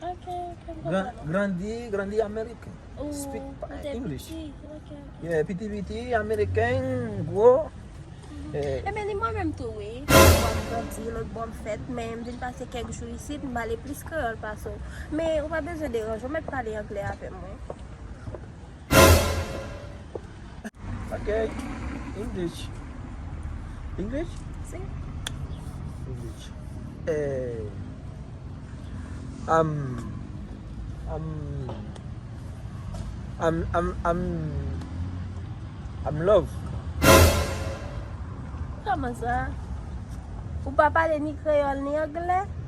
Ok, ok, m konprann ou. Grandi, grandi ameriken. Ou te piti, ok, ok. Yeah, piti piti, ameriken, gwo. E men ni mwen menm tou wi. Yon bò m grandi, lòt bò m fèt, men m vin pase kèk jou isit, m pale plis kreyòl pase w. Men ou pa bezwen deranje, ou mèt pale angle avè m wi. Ok, English. English? Si. English. Eh. Am. Am. Am, am, am. Am love. Kòman sa? Ou pa pale ni kreyòl ni angle?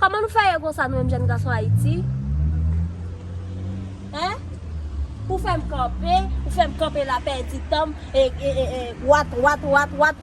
Koman nou fè ye konsa nou menm jèn gason Ayiti? Hein? Ou fèm kanpe, ou fèm kanpe la pèdi tanm ee wat wat wat wat.